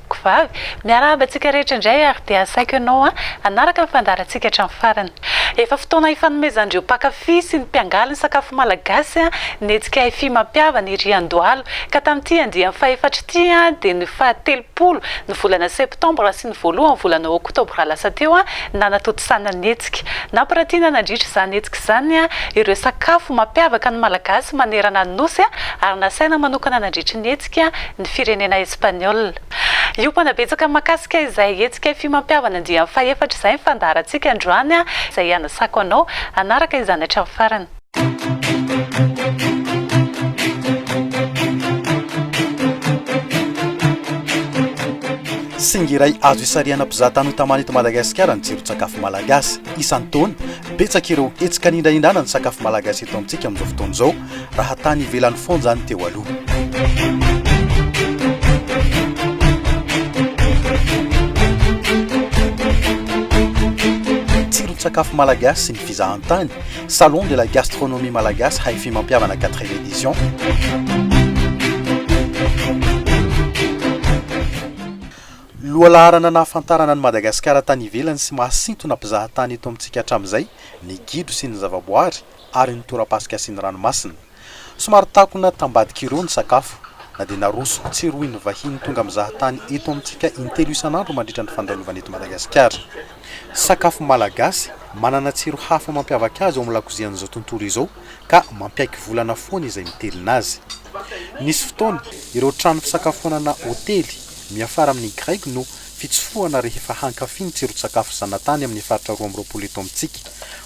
Mpivavy, miarahaba antsika rehetra indray ary dia asaiko ianao hanaraka ny fandaharantsika hatramin'ny farany. Efa fotoana hifanomezan'ireo mpankafy sy ny mpiangaly ny sakafo malagasy ny hetsika Hifi mampihavana ery Andohalo ka tamin'ity andiany fahefatra ity dia ny faha telopolo ny volana septambra sy ny voalohan'ny volana oktobra lasa teo nanatontosana ny hetsika. Nampiratiana nandritra izany hetsika izany ireo sakafo mampiavaka ny malagasy manerana ny Nosy ary nasaina manokana nandritra ny hetsika. hetsika ny firenena Espaniola. Hiompana betsaka mahakasika izay hetsika fy mampihavana andiany fahefatra izay ny fandaharantsika androany izay hanasako anao hanaraka izany hatramin'ny farany. Singa iray azo isarihana mpizahatany ho tamana eto Madagasikara ny tsiron-tsakafo malagasy. Isan-taona, betsaka ireo hetsika anindrahindrana ny sakafo malagasy eto amintsika amin'izao fotoana izao. raha tany ivelany foana izany teo aloha. Tsiron-tsakafo malagasy sy ny fizahantany, Salon de la gastronomie malagasy Hi-Fi mampihavana 4e édition. Lohalaharana nahafantarana an'i Madagasikara tany ivelany sy mahasintona mpizahatany eto amintsika hatramin'izay ny gidro sy ny zavaboary, ary ny tora-pasika sy ny ranomasina. Somary takona tambadika ireo ny sakafo, na dia naroso ho tsirohin'ny vahiny tonga mizaha tany eto amintsika in-telo isan'andro mandritra ny fandalovana eto Madagasikara. Sakafo malagasy, manana tsiro hafa mampiavaka azy ao amin'ny lakozian'izao tontolo izao, ka mampiaiky volana foana izay mitelina azy. Nisy fotoana, ireo trano fisakafoanana, hotely, miafara amin'ny Graigy no fitsofohana rehefa hankafy ny tsiron-tsakafo zanatany amin'ny faritra roa amby roapolo eto amintsika.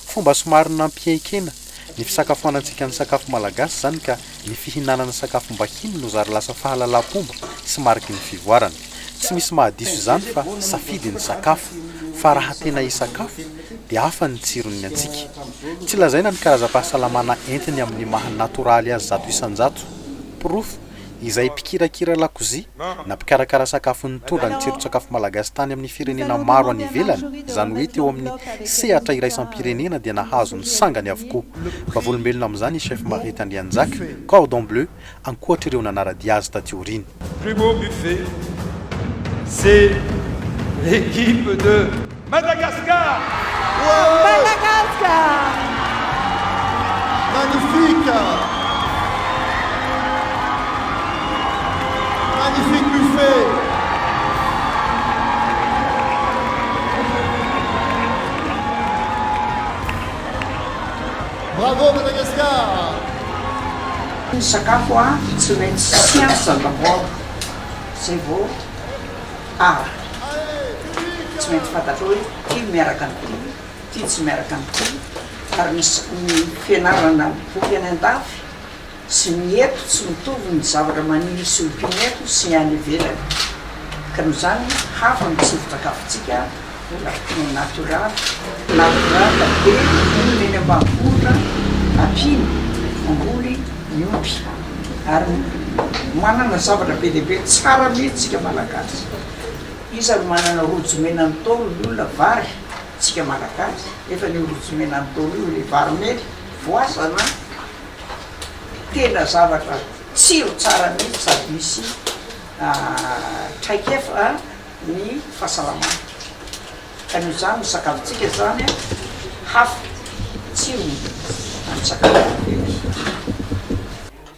Fomba somary nampihenkena ny fisakafoanantsika ny sakafo malagasy izany ka ny fihinanana sakafom-bahiny no zary lasa fahalalam-pomba sy mariky ny fivoarana. Tsy misy mahadiso izany fa safidy ny sakafo fa raha tena hisakafo dia hafa ny tsiron'ny antsika. Tsy lazaina ny karazam-pahasalamana entiny amin'ny maha natoraly azy zato isan-jato. Porofo. izay mpikirakira lakozia na mpikarakara sakafo nitondra ny tsiron-tsakafo malagasy tany amin'ny firenena maro any ivelany, izany hoe teo amin'ny sehatra iraisam-pirenena dia nahazo ny sangany avokoa. Vavolombelona amin'izany i Chef Marith Andrianjaka, Cordon Bleu, ankoatr'ireo nanara-dia azy taty aoriana. Plus beau buffet, c'est l'équipe de. Madagascar! Woohoo! Madagascar! Magnifique! Magnifique buffet! Bravo Madagascar! Ny sakafo a, tsy maintsy siansa d'abord, zay vao Ara. Tsy maintsy fantatrao hoe ity miaraka amin'ity, ity tsy miaraka amin'ity, ary ny ny fianarana boky any an-dafy sy ny eto tsy mitovy ny zavatra maniry sy ompiana eto sy ny any ivelany, ka noho izany hafa ny tsindrin-tsakafontsika Lafiny natoraly, natoraly be olona eny ambanivohitra ampino mamboly ny omby ary manana zavatra be dia be tsara mihitsy tsika malagasy. Iza no manana rojo mena ny Ntaolo ny olona vary tsika malagasy nefa ny io rojo mena ny Ntaolo io ilay vary mena voasana tena zavatra tsiro tsara mihitsy sady misy traikefa. ny fahasalamana ka noho izany ny sakafontsika izany a hafa ny tsirony amin'ny sakafo rehetra.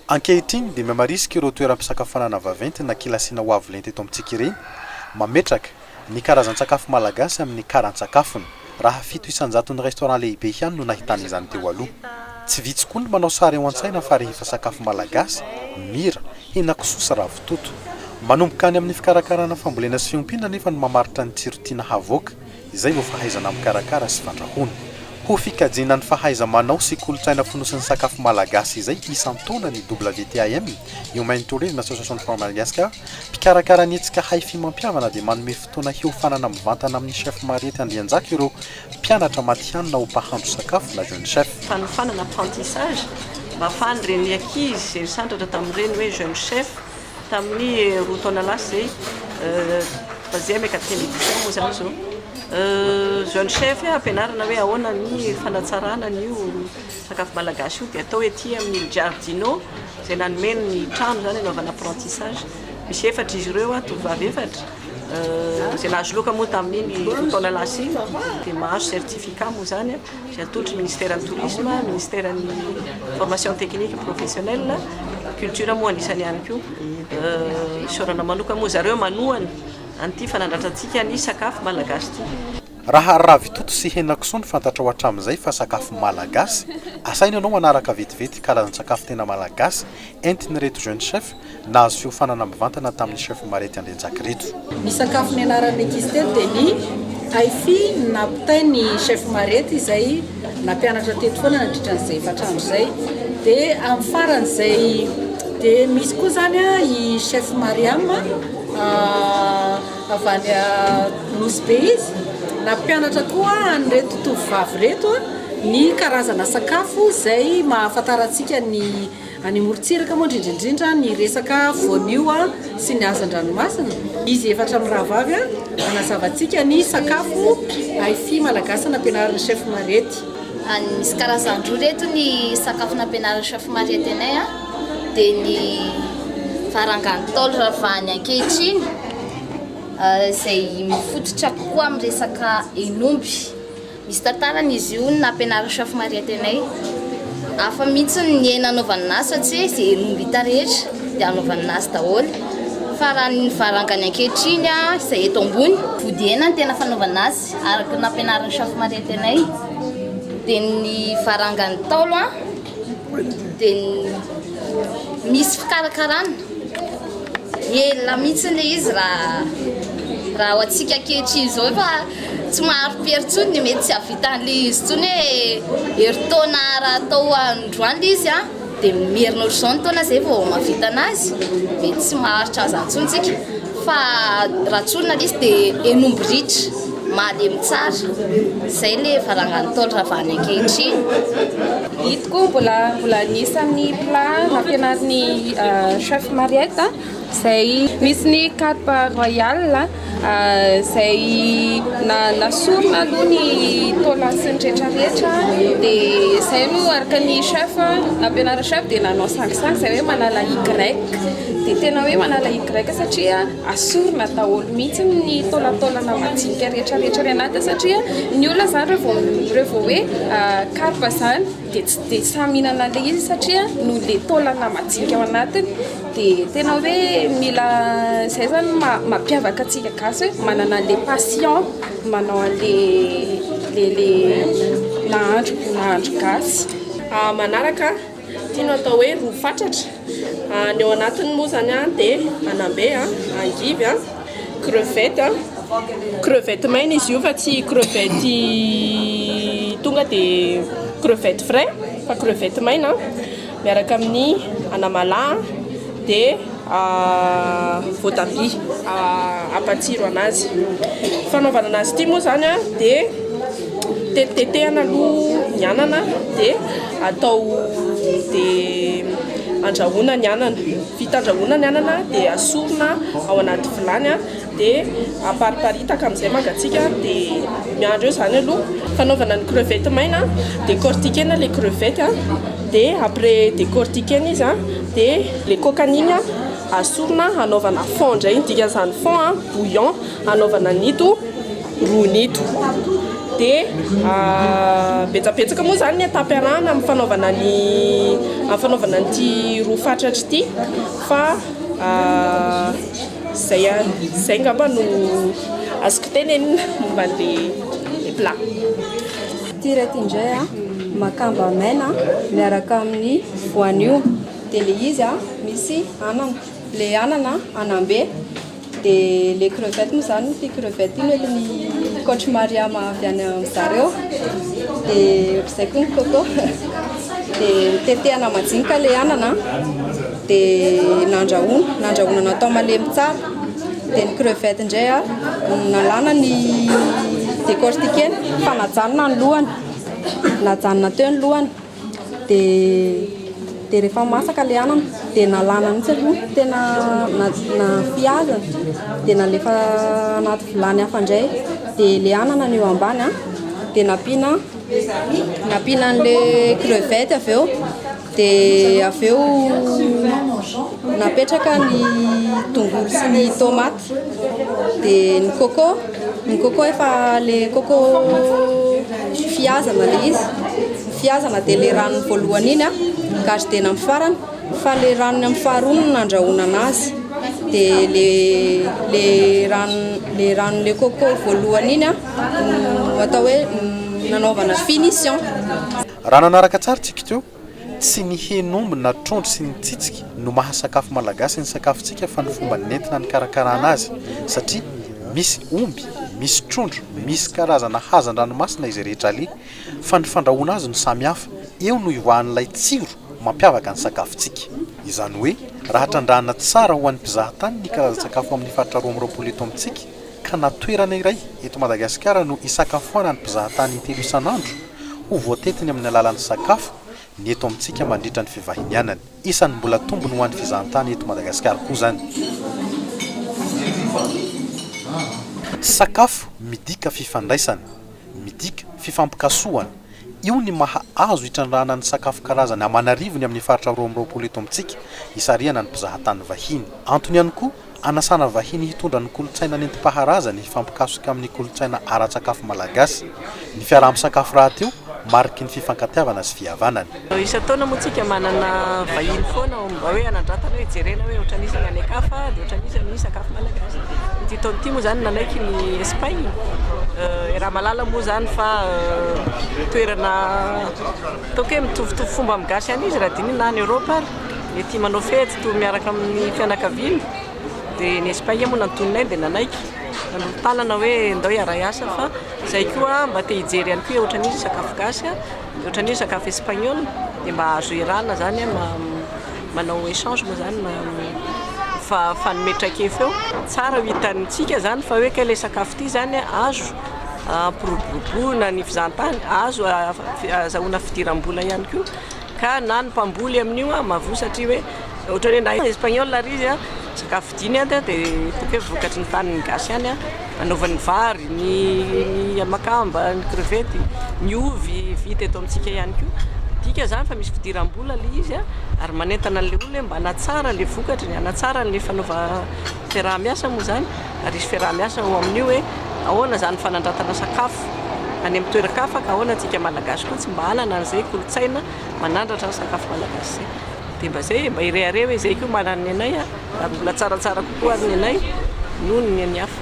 Ankehitriny dia mihamarisika ireo toeram-pisakafoanana vaventy na kilasiana ho avo lenta eto amintsika ireny, mametraka ny karazan-tsakafo malagasy amin'ny karan-tsakafony. raha fito isan-jaton'ny restaurant lehibe ihany no nahitana izany teo aloha. Tsy vitsy koa ny manao sary ao an-tsaina fa rehefa sakafo malagasy, mira, henakisoa sy ravitoto. Manomboka any amin'ny fikarakarana fambolena sy fiompiana anefa no mamaritra ny tsiro tiana havoaka, izay vao fahaizana mikarakara sy fandrahoana. Ho fikajiana ny fahaiza-manao sy kolontsaina fonosin'ny sakafo malagasy izay isan-taona ny WTAM, Humanitarian Association for Madagascar, mpikarakara ny hetsika Haifi mampihavana dia manome Fotoana hiofanana mivantana amin'ny Chef Mariette Andrianjaka ireo mpianatra matihanina ho mpahandro sakafo na Jeune Chef. Fanofanana, apprentissage, mafan'ireny ankizy izay nisandratra tamin'ireny hoe Jeune Chef tamin'ny roa taona lasa izay troisième et quatrième édition moa izany izao. Jeune Chef ampianarana hoe ahoana ny fanatsarana an'io sakafo malagasy io dia atao ety amin'ny Il Giardino izay nanome ny trano izany hanaovana apprentissage. Misy efatra izy ireo, tovovavy efatra. Izay nahazo loka moa tamin'iny roa taona lasa iny dia mahazo certificat moa izany izay atolotry ny Ministeran'ny Tourisme, Ministeran'ny Formation Technique Professionnelle, Culture moa anisany ihany koa. Isaorana manokana moa zareo manohana an'ity fanandratra antsika ny sakafo malagasy ity. Raha ravitoto sy henakisoa no fantatrao hatramin'izay fa sakafo malagasy, asaina ianao hanaraka vetivety karazan-tsakafo tena malagasy entin'ireto jeunes chefs Nahazo fiofanana mivantana tamin'ny chef Marety Andrianjakireto. Ny sakafo nianaran'ny ankizy teto dia ny Aifi napitainy ny chef Marety izay nampianatra teto foana nandritra an'izay efatra andro izay. Dia amin'ny faran'izay dia misy koa izany i chef Mariam avy any Nosy Be izy nampianatra koa an'ireto tovovavy ireto ny karazana sakafo izay mahafantarantsika ny Any amorontsiraka moa indrindra indrindra ny resaka voanio sy ny hazan-dranomasina, izy efatra mirahavavy manazava antsika ny sakafo Hi-Fi malagasy nampianarin'ny chef Mariette. Misy karazany roa ireto ny sakafo nampianarin'ny chef Mariette anay a, dia ny varanga Ntaolo ravahiny ankehitriny izay mifototra kokoa amin'ny resaka hen'omby. Misy tantarany izy io ny naha-mpianaran'i Chef Mariette anay. Hafa mihitsy ny niaina hanaovana ny azy satria izay omby hita rehetra dia hanaovana ny azy daholo. Fa raha ny varangany ankehitriny izay eto ambony, vody hena ny tena fanaovana azy araka ny nampianarin'i Chef Mariette anay. Dia ny varangan'ny Ntaolo dia misy fikarakarana. Ela mihitsy ilay izy raha raha ho antsika ankehitriny izao efa. Tsy mahari-pihery intsony ny mety tsy hahavitan'ilay izy intsony hoe herintaona raha atao androany ilay izy an, dia miherina ohatr'izao ny taona izay vao mahavita an'azy, dia tsy maharitra an'izany intsony isika fa raha tsorina ilay izy dia hen'omby ritra, malemy tsara. Izay ilay varangan'ny Ntaolo ravàna ankehitriny. Hitako mbola mbola anisan'ny plat nampianarin'ny chef Mariette izay misy ny Carpe Royal izay nasorona aloha ny taola sy ny rehetra rehetra dia izay no araka ny chef nampianarin'ny chef dia nanao sangisangy izay hoe manala Y dia tena hoe manala Y satria asorona daholo mihitsy ny taolataolana majinika rehetra rehetra any anaty satria ny olona izany raha vao raha vao hoe Carpe izany dia tsy dia sahy mihinana an'ilay izy satria noho ilay taolana majinika ao anatiny Dia tena hoe mila izay zany no maha mampiavaka antsika gasy hoe manana an'ilay passion manao an'ilay le nahandro nahandro gasy. Ah, manaraka ity no atao hoe ro fatratra. Ah, ny ao anatiny moa izany an dia anambe an, angivy an, crevette an, crevette maina izy io fa tsy crevette tonga dia crevette frais fa crevette maina an. Miaraka amin'ny anamala dia voatabia hampatsiro anazy. Fanaovana anazy ity moa izany dia tetitetehana aloha ny anana dia atao dia andrahoina ny anana. Vita andrahoina ny anana dia asorina ao anaty vilany. dia apariparitaka amin'izay mangatsiaka dia miandry eo izany aloha fanaovana ny crevette maina décortiquena ilay crevette dia après décortiquena izy dia ilay kokany iny asorina hanaovana fond indray ny dikan'izany fond bouillon hanaovana an'ito rony ito dia betsabetsaka moa izany ny étape arahana amin'ny fanaovana ny amin'ny fanaovana an'ity ro fatratra ity fa Zay ary zay ngamba no azoko tenenina momba an'le plat. Ity reto indray a, makamba maina miaraka amin'ny voanio, dia le izy a misy anana, le anana anambe, dia le crevette moa zany ity crevette ity mety ny coach Mariama avy any amin'ny zareo, dia zay koa ny coco, dia tetehana majinika le anana. dia nandrahoina nandrahoina natao malemy tsara dia ny crevette indray a nalana ny décortiquer-na fa najanona ny lohany najanona teo ny lohany dia dia rehefa masaka ilay anana dia nalana mihitsy aloha ny tena nafihazana dia nalefa anaty vilany hafa indray dia ilay anana no eo ambany a dia nampiana nampiana an'ilay crevette avy eo Dia avy eo napetraka ny tongolo sy ny tomaty. Dia ny coco, ny coco efa le coco fihazana le izy. Fihazana dia le ranony voalohany iny garidena amin'ny farany fa le ranony amin'ny faharoa no nandrahoana anazy. Dia le le ranony le ranon'le coco voalohany iny no atao hoe nanaovana finition. Raha nanaraka tsara tsika teo, tsy ny hen'omby na trondro sy ny tsitsiky no maha sakafo malagasy ny sakafontsika fa ny fomba nentina nikarakarana azy satria misy omby, misy trondro, misy karazana hazan-dranomasina izay rehetra aleha fa ny fandrahoana azy no samy hafa, eo no ivahan'ilay tsiro mampiavaka ny sakafontsika. Izany hoe raha trandrahana tsara ho an'ny mpizahatany ny karazan-tsakafo amin'ny faritra roa amby roapolo eto amintsika ka na toerana iray eto Madagasikara no hisakafoanan'ny mpizahatany intelo isan'andro, ho voatetiny amin'ny alalan'ny sakafo ny eto amintsika mandritra ny fivahinianany. Isan'ny mbola tombony ho an'ny fizahantany eto Madagasikara koa izany. Sakafo midika fifandraisana, midika fifampikasohana. Io ny maha azo itrandrahana ny sakafo karazany aman'arivony amin'ny faritra roa amby roapolo eto amintsika, isarihana ny mpizahatany vahiny. Antony ihany koa, Anasana vahiny hitondra ny kolontsaina nentim-paharazany hifampikasoka amin'ny kolontsaina ara-tsakafo malagasy. Ny fiaraha-misakafo rahateo, mariky ny fifankatiavana sy fihavanana. Isan-taona moa tsika manana vahiny foana ao amin'ny mba hoe hanandratana hoe jerena hoe ohatran'ny iza ny any an-kafa dia ohatran'ny iza ny sakafo malagasy. Ity taona ity moa izany nanaiky ny Espagne, i Ramalala moa izany fa toerana Ataoko hoe mitovitovy fomba amin'ny gasy any izy raha dinihina na any Europe ary, dia tia manao fety toa miaraka amin'ny fianakaviany, dia ny Espagne moa nantonina dia nanaiky, nanolo tanana hoe ndao hiaray asa fa zay koa mba te hijery ihany koa hoe ohatran'iza ny sakafo gasy a, dia ohatran'iza ny sakafo espagnol, dia mba azo iarahana zany hoe manao echange moa zany mifanome traikefa eo, tsara ho hitantsika zany fa hoe kay le sakafo ty zany azo. hampiroboroboana ny fizahantany, azo azahoana fidiram-bola ihany koa, ka na ny mpamboly amin'io an, mavoa satria hoe ohatran'ny hoe na espagnol ary izy an, sakafo vidiany an, dia ataoko hoe vokatry ny tanin'ny gasy ihany an, anaovany ny vary, ny makamba, ny crevette, ny ovy vita eto amintsika ihany koa, midika izany fa misy fidiram-bola ilay izy an, ary manentana an'ilay olona hoe mba hanatsara ilay vokatry, hanatsara ilay fanaova Fiaraha-miasa moa izany ary hisy fiaraha-miasa ao amin'io hoe ahoana izany fanandratana sakafo any amin'ny toeran-kafa ka ahoana antsika Malagasy koa tsy mba hanana an'izay kolontsaina manandratra ny sakafo Malagasy izay. Dia mba izay, mba hirehareha hoe izay koa manana ny anay ary mbola tsaratsara kokoa ary ny anay noho ny an'ny hafa.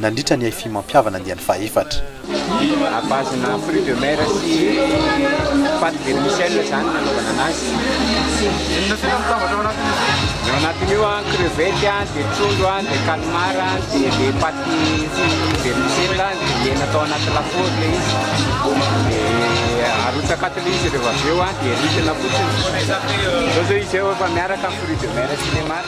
nandritra ny Hi-Fi Mampihavana andiany fahefatra. À base-na fruits de mer sy pâte vermicelle izany no nanaovana anazy. Inona tena no tambatra ao anatin'izy io? Ny ao anatiny io an, crevette an, dia trondro an, dia calmar an, dia ilay pâte vermicelle an, dia hena atao anaty lafaoro ilay izy. Dia arotsaka ato ilay izy rehefa avy eo an, dia ritina fotsiny. Izao izao izy eo efa miaraka ny fruits de mer sy ilay maro.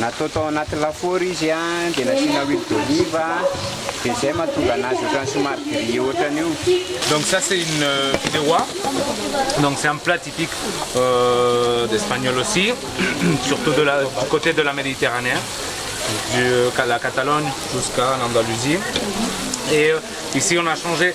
Natao tao anaty lafaoro izy an, dia nasiana huile d'olive an, dia izay mahatonga anazy ohatran'ny somary grillé ohatran'ny io. Donc ça c'est une fideuà, donc c'est un plat typique d'espagnol aussi, surtout de la du coté de la Méditerranée, de la Catalogne jusqu'à l'Andalousie et ici on a changé.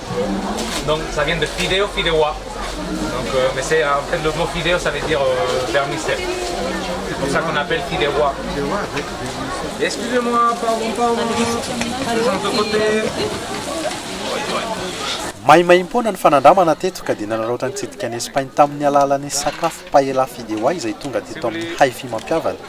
Maimaimpoana ny fanandramana teto ka dia nanaraotra nitsidika an'i Espagne tamin'ny alàlan'ny sakafo Paella Fideuà izay tonga teto amin'ny Hi-Fi mampihavana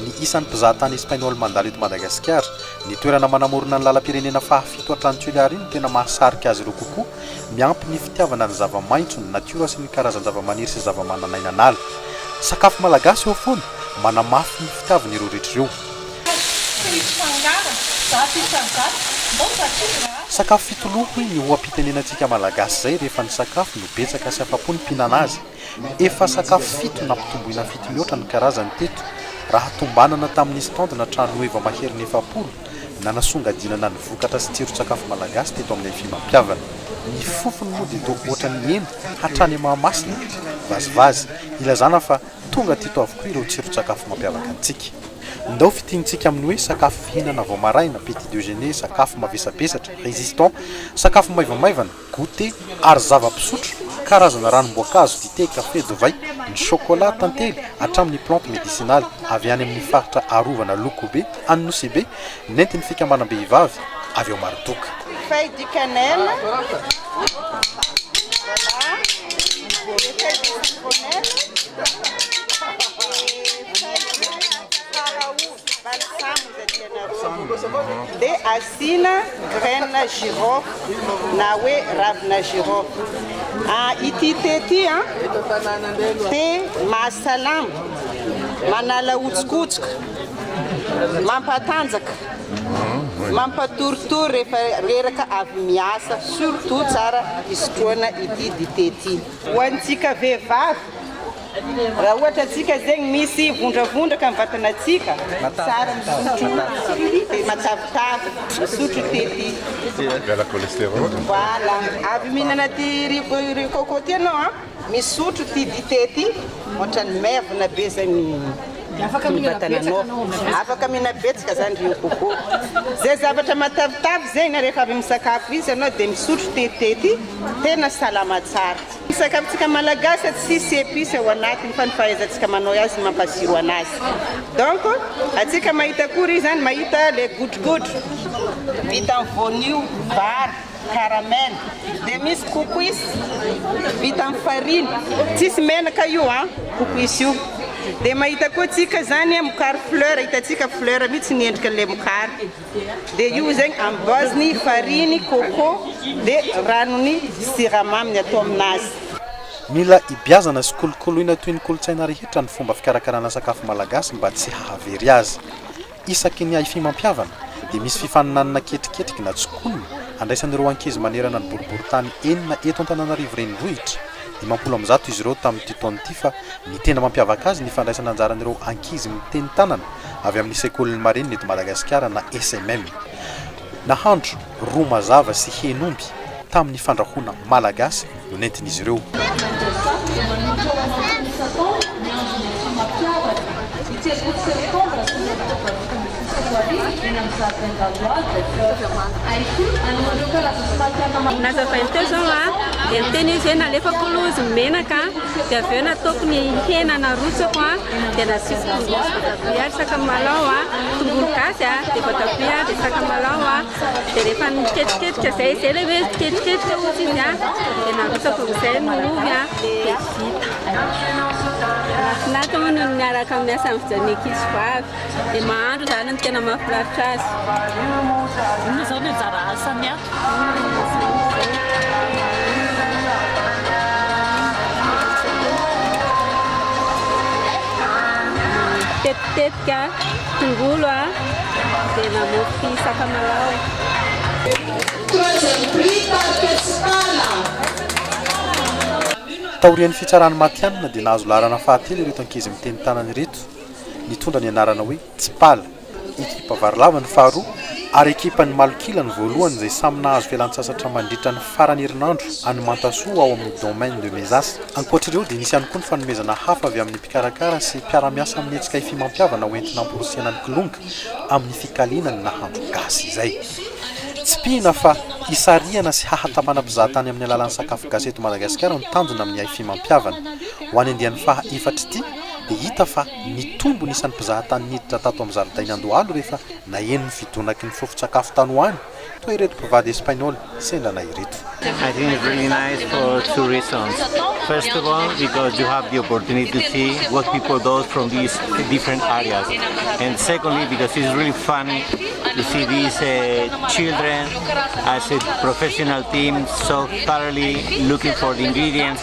ny isan'ny mpizahatany Espainola mandalo eto Madagasikara. Ny toerana manamorona ny lalam-pirenena fahafito hatrany Cullari no tena mahasarika azy ireo kokoa. Miampy ny fitiavana ny zava-maitso, ny natiora sy ny karazan-javamaniry sy zavamananainan'ala. Sakafo malagasy eo foana, manamafy ny fitiavana ireo rehetra ireo. Sakafo fitoloha hoy ny oha-pitenenantsika Malagasy izay rehefa ny sakafo no betsaka sy afa-po ny mpihinana azy. Efa sakafo fito nampitomboina fito mihoatra ny karazany teto, raha tombanana tamin'ny stand na trano heva maherin'ny efapolo, nanasongadinana ny vokatra sy tsiron-tsakafo malagasy teto aminay fimampiavana. Ny fofony moa dia toa ohatran'ny hena hatrany Mahamasina e! Vazivazy, ilazana fa tonga teto avokoa ireo tsiron-tsakafo mampiavaka antsika. Ndao fintinintsika amin'ny hoe sakafo fihinana vao maraina, petit dejeuner, sakafo mavesabesatra, résistant, sakafo maivamaivana, goûté, ary zava-pisotro, karazana ranom-boankazo, dité, café, divay, ny chocolat, tantely, hatramin'ny plantes médicinales avy any amin'ny faritra arovana Lokobe, any Nosy-Be, nentin'ny fikambanam-behivavy avy ao Maridoka. Feuilles du cannelle, voilà, des feuilles de citronnelle, des feuilles de haraoba. Dia asiana graines girofle na hoe ravina girofle. Ity thé ity dia mahasalama, manala hotsokotsoka, mampatanjaka, mampatoritory rehefa reraka avy miasa, surtout tsara hisotroana ity dite ity. Ho antsika vehivavy. Raha ohatra antsika zegny misy vondravondraka am vatanatsika tsara misotro thé matavitavy misotro thé ty Miala cholestérol. Voilà avy mihinana ty riz coco ty anao an misotro ty dite ty ohatrany maivana be zegny ny vatananao afaka mihina betsaka zany riz coco ze zavatra matavitavy zegny rehefa avy misakafo izy anao de misotro ty thé ty tena salama tsara. Ny sakafontsika malagasy tsisy epice ao anatiny fa ny fahaizantsika manao azy no mampaziro anazy donc atsika mahita akory izy zany mahita le godrogodro vita amin'ny voanio, vary, caramel dia misy kokoisy vita amin'ny farine tsisy menaka io an kokoisy io dia mahita koa tsika zany mokary fleur hitantsika fleur mitsy ny endrika an'ilay mokary. Dia io zegny amboazy ny farine, coco, dia ranony, siramaminy atao aminazy. Mila ibiazana sy kolokoloina toy ny kolontsaina rehetra ny fomba fikarakarana sakafo malagasy mba tsy hahavery azy. Isaky ny hifimampiavana dia misy fifaninanana ketriketriky na tsikona andraisan'ireo ankizy manerana ny boriborintany enina eto Antananarivo Renivohitra, dimampolo amby zato izy ireo tamin'ity taona ity fa ny tena mampiavaka azy ny fandraisana anjaran'ireo ankizy miteny tanana avy amin'ny Sekolin'ny Marinina eto Madagasikara na SMM. Nahandro ro mazava sy hen'omby tamin'ny fandrahoana malagasy no nentin'izy ireo. Nazavainy teo izao dia niteny izy hoe nalefako aloha izy ny menaka dia avy eo nataoko ny hena narotsako. Tena tsy mitombo ny voatabia ary sakamalao a, tongolo gasy a, dia voatabia dia sakamalao a, dia rehefa miketriketrika izay, izay ilay hoe miketriketrika ohatra izy a, dia narotsako amin'izay ny ovy a, dia vita. Mahafinaritra hono ny miaraka miasa amin'ny fijalian'ny ankizy vavy. dia mahandro izany no tena mahafinaritra azy. Inona izao ny anjara asany Tetitetika tongolo dia namoky sakamalaho. Taorian'ny fitsarana matihanina dia nahazo laharana fahatelo ireto ankizy miteny tanana ireto. nitondra ny anarana hoe Tsipala, ekipa varilava ny faharoa ary ekipan'ny Malok'ila ny voalohany izay samy nahazo fialantsasatra mandritra ny faran'ny herinandro any Mantasoa ao amin'ny Domaine de Mezas. Ankoatra ireo dia nisy ihany koa ny fanomezana hafa avy amin'ny mpikarakara sy mpiara-miasa amin'ny hetsika ifimampiavana ho entina hamporisiana ny Kilonga amin'ny fikaliana ny nahandro gasy izay tsipihina fa hisarihana sy hahatamana mpizahatany amin'ny alalan'ny sakafo gasy eto Madagasikara ny tanjona amin'ny haifimampiavana ho any andiany faha efatr'ity dia hita fa nitombo ny isan'ny mpizaha tany niditra tato amin'ny zaridaina Andohalo rehefa naheno ny fidonaky ny fofon-tsakafo tany ho any, toa ireto mpivady Espainola sendrana ireto. I think it's really nice for two reasons. First of all, because you have the opportunity to see what people does from these different areas. And secondly, because it's really funny to see these uh, children as a professional team so thoroughly looking for the ingredients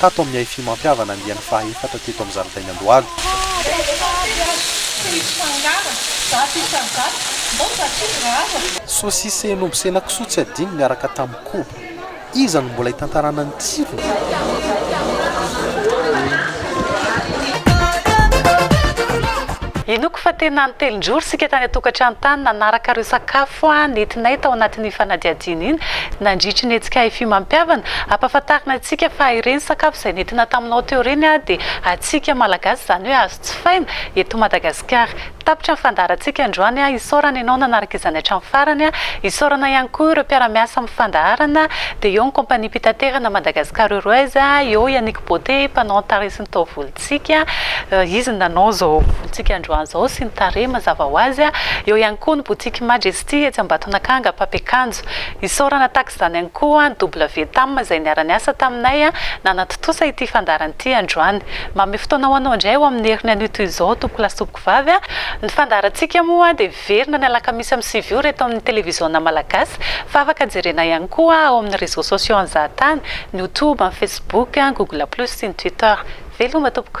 tato amin'ny haifimampihavana andiany fahaefatra teto amin'ny zaridain'i Andohalo. Sosisen'omby sy henakisoa tsy adino niaraka tamin'ny koba. Iza no mbola hitantarana ny tsirony? Inoako fa tena nitelin-drory isika tany an-tokantrano tany nanaraka ireo sakafo nentinay tao anatin'iny fanadihadiana iny nandritry ny hetsika haifimampihavana Ampahafantarina antsika fa ireny sakafo izay nentina taminao teo ireny dia antsika Malagasy izany hoe azo jifaina eto Madagasikara. Tapitra ny fandaharantsika androany, isaorana ianao nanaraka izany hatramin'ny farany, isaorana ihany koa ireo mpiara-miasa amin'ny fandaharana dia eo ny Compagnie Mpitaterana Madagascar Airways, eo i Annick Beauté mpanao antaresin'ny taovolo. tsika, Izy no nanao izao volontsika androany izao sy ny tarehy mazava ho azy, eo ihany koa ny botiky Majesty etsy Ambatonakanga, Mpampiakanjo. Isaorana tahaka izany ihany koa ny WTAM izay niara-niasa taminay nanatontosa ity fandaharana ity androany. Manome fotoana ho anao indray ao amin'ny heriny anio toy izao, Tompokolahy sy Tompokovavy, ny fandaharantsika moa dia. Hiverina ny alakamisy amin'ny sivy ora eto amin'ny televiziona malagasy fa afaka jerena ihany koa ao amin'ny réseaux sociaux an-jahatany, ny youtube, ny facebook, google plus sy ny twitter. Veloma tompoko.